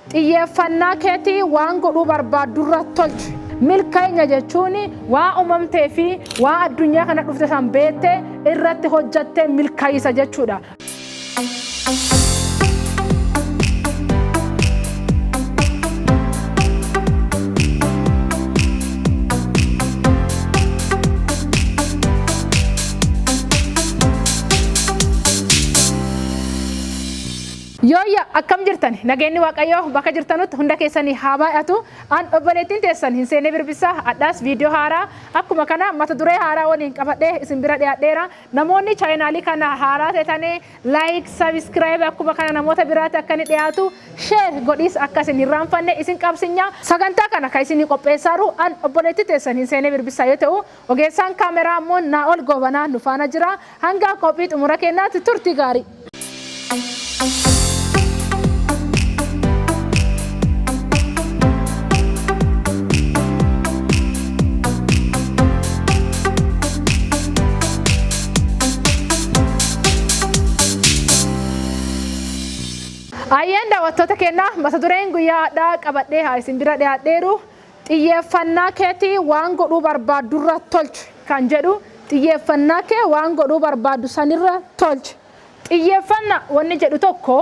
Xiyyeeffannaa keetii waan godhuu barbaaddurra tolchi. Milka'inya jechuun waan uumamtee fi waan addunyaa kana dhufte san beettee irratti hojjatte milka'iisa jechuudha. Yooyya akkam jirtani nageenni waaqayyoo bakka jirtanutti hunda keessani haa baay'atu an obboleettiin teessan hin seenee birbissaa hadhaas viidiyoo haaraa akkuma kana mata duree haaraa waliin qabadhee isin bira dhiyaadheera namoonni chaayinaalii kana haaraa teetani like subscribe akkuma kana namoota biraatti akka inni dhiyaatu share godhiis akka isin hin raanfanne isin qabsinya sagantaa kana kan isinii qopheessaaru an obboleettii teessan hin seenee birbissaa yoo ta'u Ogeessaan kaameraa ammoo Naa'ol Goobanaa nu faana jira. Hanga qophii xumura keenyaatti turtii gaarii. Ayyeen daawwattoota keenyaa mata dureen guyyaa hadhaa qabadhee haa isin bira dhiyaadheeru. Xiyyeeffannaa keetii waan godhuu barbaaddurra tolchi. kan jedhu xiyyeeffannaa kee waan godhuu barbaaddu sanirra tolchi. Xiyyeeffanna wanni jedhu tokko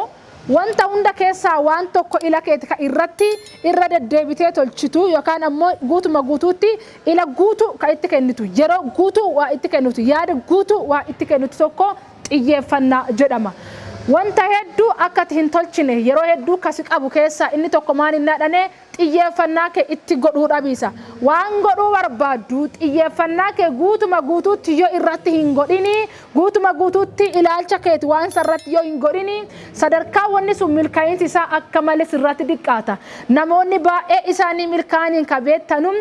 wanta hunda keessaa waan tokko ila keeti ka irratti irra deddeebitee tolchitu yookaan ammoo guutuma guutuutti ila guutuu ka itti kennitu, yeroo guutuu waa itti kennitu, yaada guutuu waa itti kennitu tokko xiyyeeffanna jedhama. Wanta hedduu akka ati hin tolchine yeroo hedduu ka si qabu keessaa inni tokko maal innaa dhane Xiyyeeffannaa kee itti godhuu dhabiisa. Waan godhuu barbaaddu xiyyeeffannaa kee guutuma guutuutti yoo irratti hin godhini, guutuma guutuutti ilaalcha keeti waan sarratti yoo hin godhini, sadarkaa wanni sun milka'iinsi isaa akka male sirratti diqqaata. Namoonni baay'ee isaanii milkaa'aniin ka beettanu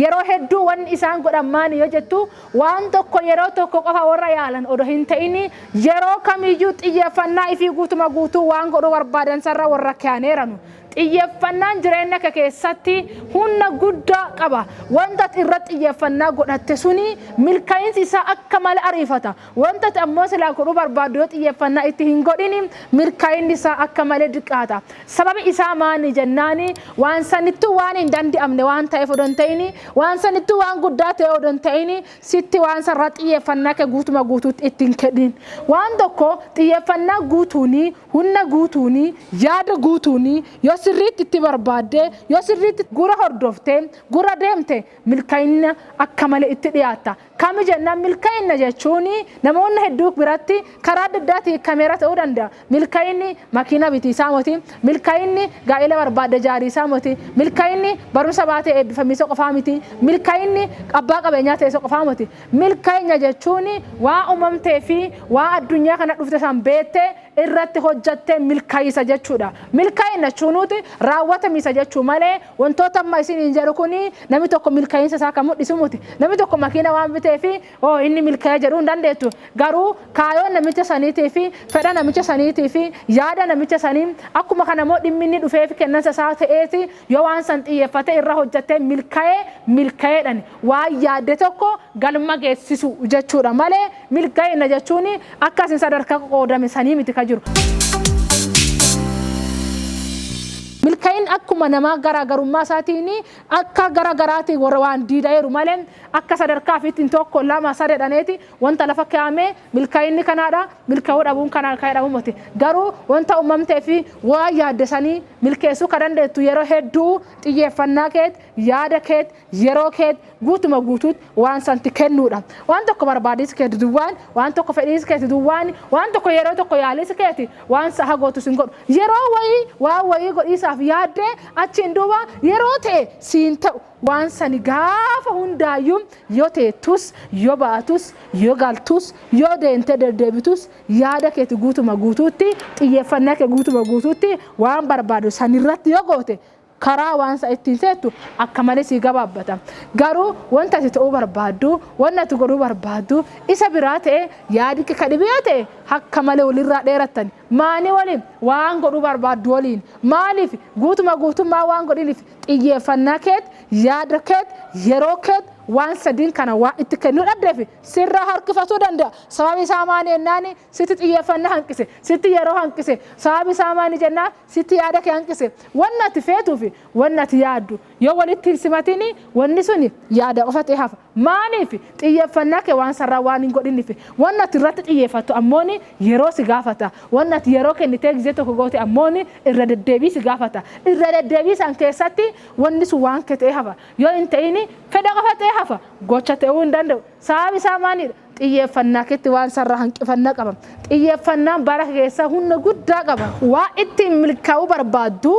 yeroo hedduu wanni isaan godhan maani yoo jettu, waan tokko yeroo tokko qofa warra yaalan odoo hin ta'ini, yeroo kamiyyuu xiyyeeffannaa ifii guutuma guutuu waan godhuu barbaadan sarra warra keyaneeranu. Xiyyeffannaan jireenya kee keessatti hunna guddaa qaba. Wanta ati irra xiyyeffannaa godhatte suni milka'insi isaa akka male ariifata. Wanta ati ammoo silaa godhuu barbaaddu yoo xiyyeffannaa itti hin godhini milka'inni isaa akka male diqqaata. Sababi isaa maani jennaani waan sanittuu waan hin dandi'amne waan ta'eef odoo hin ta'ini waan sanittuu waan guddaa ta'ee odoo hin ta'ini Sitti waan sarara xiyyeeffannaa kee guutuma guutuutti itti hin kenniin. Waan tokko xiyyeeffannaa guutuunii, hunna guutuunii, yaada guutuunii yoo sirriitti itti barbaaddee, yoo sirriitti gura hordoftee, gura deemte milka'inna akka malee itti dhiyaatta. Kami jennaan milka'inna jechuun namoonni hedduu biratti karaa adda addaatii hiikkameera ta'uu danda'a. Milka'inni makiina biti isaa moti. Milka'inni gaa'ela barbaadde jaari isaa moti. Milka'inni barumsa baatee eebbifami isa qofaa miti. Milka'inni abbaa qabeenyaa ta'e isa qofaa moti. Milka'inya jechuun waa umamtee fi waa addunyaa kana dhufte san beette irratti hojjatte milka'isa jechuudha. Milka'inna jechuu nuuti raawwatamisa jechuu malee wantoota amma isiniin jedhu kuni nami tokko milka'insa isaa ka mudhisu moti. Nami tokko makiina waan bitee fi Hoo inni milkaa'e jedhuu hin dandeettu. Garuu kaayoo namicha saniitii fi fedha namicha saniitii fi yaada namicha sanii akkuma kana immoo dhimmi inni dhufee fi kennansa isaa ta'eeti yoo waan san xiyyeeffatee irra hojjattee milkaa'e milkaa'eedhani. Waan yaadde tokko galma geessisu jechuudha malee milkaa'ina jechuun akka isin sadarkaa qoqoodame sanii miti ka jiru. Milkaa'inni akkuma namaa garaagarummaa isaatiin Akka gara garaati warra waan diidaeeru malee akka sadarkaa fiitti hin tokko lama sade dhaneeti wanta lafa keaamee milkainni kanaadha milkauu dhabuun kanaa kae dhabu moti garuu wanta ummamtee fi waan yaadde sanii milkeessuu ka dandeettu yeroo hedduu xiyyeeffannaa keet yaada keet yeroo keet guutuma guutuut waan santi kennuudha. Waan tokko barbaadiis keeti duwwaan, waan tokko fedhiis keeti duwwaan, waan tokko yeroo tokko yaaliis keeti waan sa'a gootu sin godhu. Yeroo wayii waan wayii godhiisaaf yaaddee achiin duuba yeroo ta'e siin ta'u waan sani gaafa hundaayyuu yoo teettus, yoo baatus, yoo galtus, yoo deemtee deddeebitus yaada keeti guutuma guutuutti, xiyyeeffannaa kee guutuma guutuutti waan barbaadu sanirratti yoo goote Karaa waan sa ittiin seettu akka malee sii gabaabbata. Garuu wanta ati ta'uu barbaaddu, wanna ati godhuu barbaaddu isa biraa ta'ee yaadikki ka dhibi yoo ta'e hakka malee walirraa dheerattani. Maani waliin? Waan godhuu barbaaddu waliin. Maaliif? Guutuma guutummaa waan godhiniif xiyyeeffannaa keet, yaada keet, yeroo keet waan sadiin kana waan itti kennuu dhabdeef sirraa harkifatuu danda'a. Sababi isaa maani ennaani? Sitti xiyyeeffannaa hanqise. Sitti yeroo hanqise. Sababi isaa maani jennaan sitti yaada kee hanqise. Wanni ati feetuu fi wanni ati yaaddu yoo walitti hin simatini wanni suni yaada qofa ta'ee hafa. Maaliif? Xiyyeeffannaa kee waan sarraa waan hin godhiniif. Wanni ati irratti xiyyeeffattu ammooni yeroo si gaafata. Wanni ati yeroo kennitee gizee tokko goote ammooni irra deddeebii si gaafata. Irra deddeebii san keessatti wanni sun waan kee ta'ee hafa. Yoo hin ta'ini fedha qofa ta'ee hafa. Gocha ta'uu hin danda'u. Sababi isaa maani dha? Xiyyeeffannaa keetti waan sarara hanqifanna qaba. Xiyyeeffannaan bara keessa hunna guddaa qaba. Waan ittiin milkaa'uu barbaaddu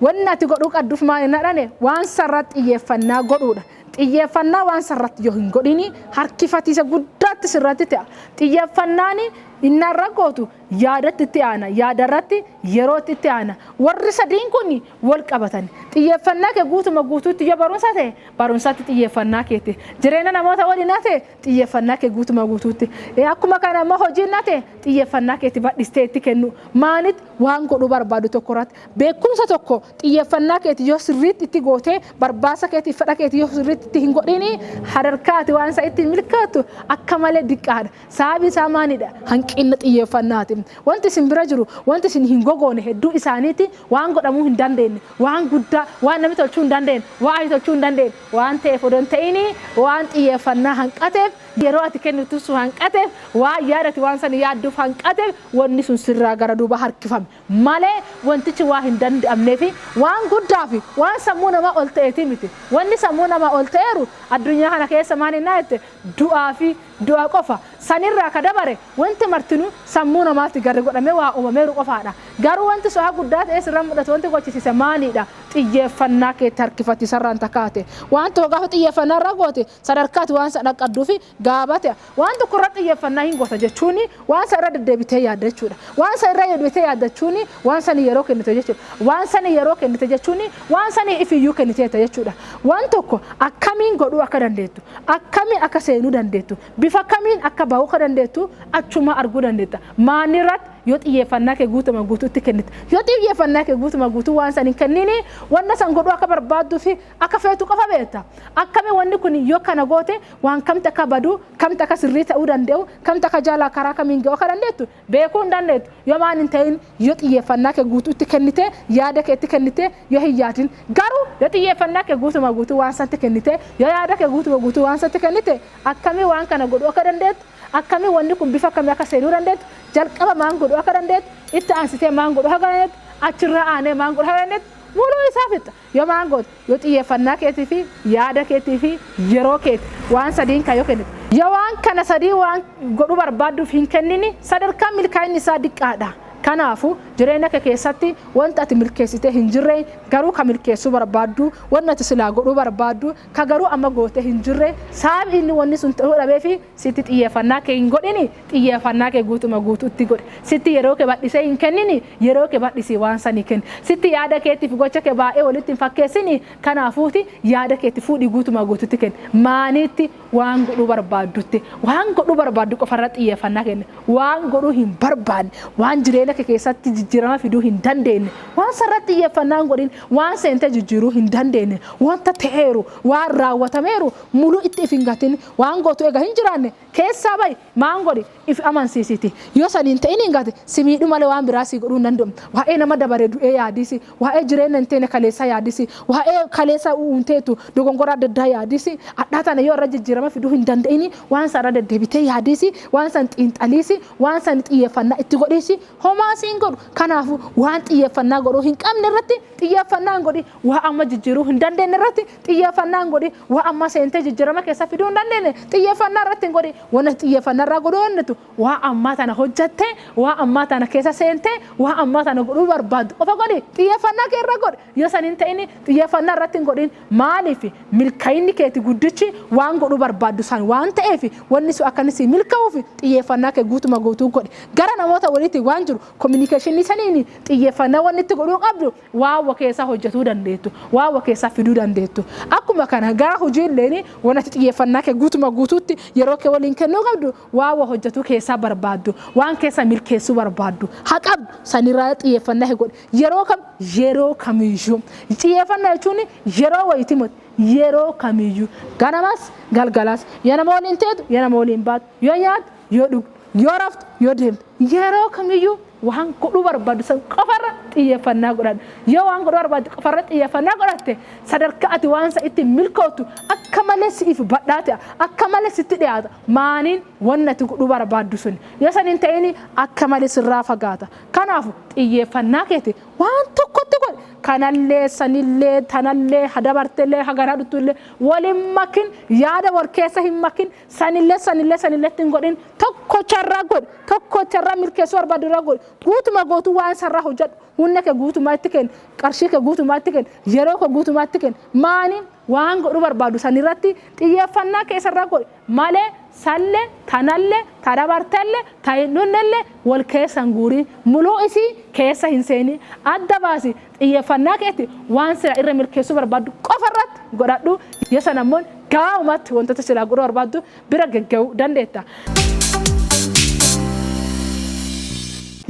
wanni ati godhuu qadduf maal hin hadhane waan sarara xiyyeeffannaa godhuudha. Xiyyeeffannaa waan sarratti yoo hin godhini harkifatiisa guddaatti sirratti ta'a. Xiyyeeffannaani innarra gootu yaadatti itti aana. Yaadarratti yerootti itti aana. Warri sadiin kun wal qabatani. Xiyyeeffannaa kee guutuma guutuutti yoo barumsa ta'e barumsatti xiyyeeffannaa keeti. Jireenya namoota waliin yoo ta'e Xiyyeffannaa kee guutuma guutuutti. Akkuma kana immoo hojiin nate xiyyeffannaa keetti badhistee itti kennuu. Maalitti waan godhuu barbaadu tokko irratti. Beekumsa tokko xiyyeffannaa keetti yoo sirriitti itti gootee barbaasa keetti fedha keetti yoo sirriitti itti hin godhiinii sadarkaa ati waan isaa ittiin milkooftu akka malee diqqaadha. Sababi isaa maalidha? Hanqinna xiyyeffannaati. Wanti isin bira jiru wanti isin hin gogoone hedduu isaaniiti waan godhamuu hin dandeenye waan guddaa waan namni tolchuu hin dandeenye waan ati tolchuu hin dandeenye waan ta'eef odoo hin ta'in waan xiyyeeffannaa hanqateef, yeroo ati kennitu sun hanqateef, waan yaada ati waan san yaadduuf hanqateef wanni sun sirraa gara duubaa harkifame malee wantichi waan hin danda'amnee fi waan guddaa fi waan sammuu namaa ol ta'eetii miti. Wanni sammuu namaa ol ta'eeru addunyaa kana keessa maal hennaa jette du'aa fi du'a qofa. San irraa ka dabare Wanti martinuu sammuu namaatti garri godhamee waa uumameeru qofaadha. Garuu wanti so'a guddaa ta'ee sirra mul'atu wanti gochisiise maaliidha? Xiyyeeffannaa keetti harkifachiisarraan ta kaate. Waan tokko gaafa xiyyeeffannaa irra goote sadarkaa ati waan sana dhaqqadduufi gaabate. Waan tokko irra xiyyeeffannaa hin goota jechuun waan sana irra deddeebitee yaadda jechuudha. Waan sana irra deebitee yaadda jechuun waan sanii yeroo kennite jechuudha. Waan sanii yeroo kennite jechuun waan sanii ifiyyuu kenniteetta jechuudha. Waan tokko akkamiin godhuu akka dandeettu, akkamiin akka seenuu dandeettu, Bifa kamiin akka ba'uu akka dandeettu achumaa arguu dandeetta. Maalirratti? Yoo xiyyeeffannaa kee guutuma guutuutti kennite. Yoo xiyyeeffannaa kee guutuma guutuu waan san hin kenniini wanna san godhuu akka barbaadduu fi akka feetu qofa beetta. Akkami wanni kun yoo kana goote waan kamti akka badu, kamti akka sirrii ta'uu danda'u, kamti akka jaalaa karaa kamiin ga'uu akka dandeettu Beekuu hin dandeettu. Yoo waan hin ta'in, yoo xiyyeeffannaa kee guutuu itti kennitee, yaada kee itti kennitee, yoo hin yaadin. Garuu yoo xiyyeeffannaa kee guutumaa guutuu waan sanatti kennitee, yoo yaada kee guutumaa guutuu waan sanatti kennite, akkamiin waan kana godhuu akka dandeettu, akkamiin wanni kun bifa akkamii akka seenuu dandeettu, jalqaba maan godhuu akka dandeettu, itti aansitee maan godhuu akka dandeettu, achirraa aanee maan godhuu akka dandeettu, muluu isaa fixxa. Yoo maan goote? Yoo xiyyeeffannaa keetii fi yaada keetii fi yeroo keeti waan sadiin kan yoo kennite. Yoo waan kana sadii waan godhuu barbaadduuf hin kennini sadarkaan milkaa'inni isaa diqqaa dha. Kanaafu, jireenya kee keessatti wanti ati milkeessitee hin jirre garuu ka milkeessuu barbaaddu, wanni ati silaa godhuu barbaaddu ka garuu amma gootee hin jirre sababi inni wanni sun ta'uu dhabee fi Sitti xiyyeeffannaa kee hin godhini, xiyyeeffannaa kee guutuma guutuutti godhi. Sitti yeroo kee bal'isee hin kennini, yeroo kee bal'isii waan sanii kenni. Sitti yaada keetti fi gocha kee baay'ee walitti hin fakkeessini, kanaafuuti yaada keetti fuudhii guutuma guutuutti kenni. Maaniitti? Waan godhuu barbaaddutti. Waan godhuu barbaaddu qofa irratti xiyyeeffannaa kenni. Waan godhuu hin barbaanne, waan jireenya kee keessatti jijjiirama fiduu hin dandeenye, waan san irratti xiyyeeffannaa hin godhin. Waan seentee jijjiiruu hin dandeenye, wanta ta'eeru, waan raawwatameeru muluu itti if hin gatini. Waan gootu eega hin jiraanne keessaa ba'i, maan godhi, ifi amansiisiti. Yoo sani hin ta'iniin gate si miidhu malee waan biraa sii godhuu hin danda'u. Waa'ee nama dabare du'ee yaadisi, waa'ee jireenna hin teene kaleessaa yaadisi, waa'ee kaleessa u'uun teetu dogongora adda addaa yaadisi, adhaa tana yoo irra jijjiirama fiduu hin danda'ini waan san irra deddeebitee yaadisi, waan san xiinxaliisi, waan san xiyyeeffannaa itti godhiisi, homaa si hin godhu. Kanaafu waan xiyyeeffannaa godhuu hin qabne irratti xiyyeeffannaa hin godhin. Waa amma jijjiiruu hin dandeenye irratti xiyyeeffannaa hin godhi. Waa amma seentee jijjiirama keessa fiduu hin dandeenye xiyyeeffannaa irratti hin godhi. Wanni ati xiyyeeffannaa irraa godhuu dandeettu waa ammaa tana hojjattee, waa ammaa tana keessa seentee, waa ammaa tana godhuu barbaaddu qofa godhi. Xiyyeeffannaa kee irra godhi. Yoo san hin ta'in xiyyeeffannaa irratti hin godhin. Maaliif? Milka'inni keeti guddichi waan godhuu barbaaddu san waan ta'eef wanni sun akka inni sii milka'uuf xiyyeeffannaa kee guutuma guutuu godhi. Gara namoota waliitiin waan jiru kominikeeshinii saniin xiyyeeffannaa wanni itti godhuu qabdu waan wa keessaa hojjatuu dandeettu, waan wa keessaa fiduu dandeettu. Akkuma kana gara hujii illeen wan ati xiyyeeffannaa kee guutuma guutuutti yeroo kee waliin kennuu qabdu waan wa hojjatuu keessaa barbaaddu, waan keessa milkeessuu barbaaddu ha qabdu sanirraa xiyyeeffannaa kee godhi. Yeroo kam? Yeroo kamiyyuu. Xiyyeeffannaa jechuun yeroo wayitii moti. Yeroo kamiyyuu. Ganamas galgalas. Yoo nama waliin teetu, yoo nama waliin baatu, yoo nyaattu, Yoo dhugdu, yoo raftu, yoo deemtu, yeroo kamiyyuu waan godhuu barbaaddu san qofarra xiyyeeffannaa godhadhu. Yoo waan godhuu barbaaddu qofarra xiyyeeffannaa godhatte, sadarkaa ati waan san ittiin milkooftu akka malee si'iif badhaa ta'a. Akka malee sitti dhiyaata. Maaniin? Wanni ati godhuu barbaaddu suni yoo san hin ta'ini akka malee sirraa fagaata. Kanaafu, xiyyeeffannaa keeti waan tokkotti godhi. Kanallee, sanillee, tanallee, ha dabartellee, ha garaa dhuttuullee wal hin makin. Yaada wal keessa hin makin. Sanillee sanillee sanillee itti hin godhin tokkocha irraa godhi tokkocha irraa milkeessuu barbaadu irraa godhi guutuma gootuu waan sarraa hojjedhu humna kee guutumaa itti kenni qarshii kee guutumaa itti kenni yeroo kee guutumaa itti kenni maani waan godhuu barbaadu sanirratti xiyyeeffannaa kee sarraa godhi malee salle tanalle ta dabartelle ta hin dhunnelle wal keessa hin guurii muluu isii keessa hin seenii adda baasi Xiyyeeffannaa keetti waan silaa irra milkeessuu barbaaddu qofa irratti godhadhu, yoo sana immoo gabaabumatti wantoota silaa godhuu barbaaddu bira gagga'uu dandeetta.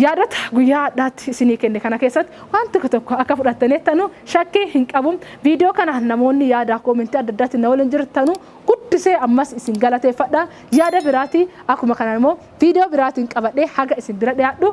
Yaadota guyyaa hadhaatti isinii kenne kana keessatti waan tokko tokko akka fudhattaniittanu shakkii hin qabu. Viidiyoo kana namoonni yaada koomentii adda addaatti na waliin jirtanu guddisee ammas isin galateeffadha. Yaada biraatii akkuma kanaan immoo viidiyoo biraatiin qabadhee haga isin bira dhiyaadhu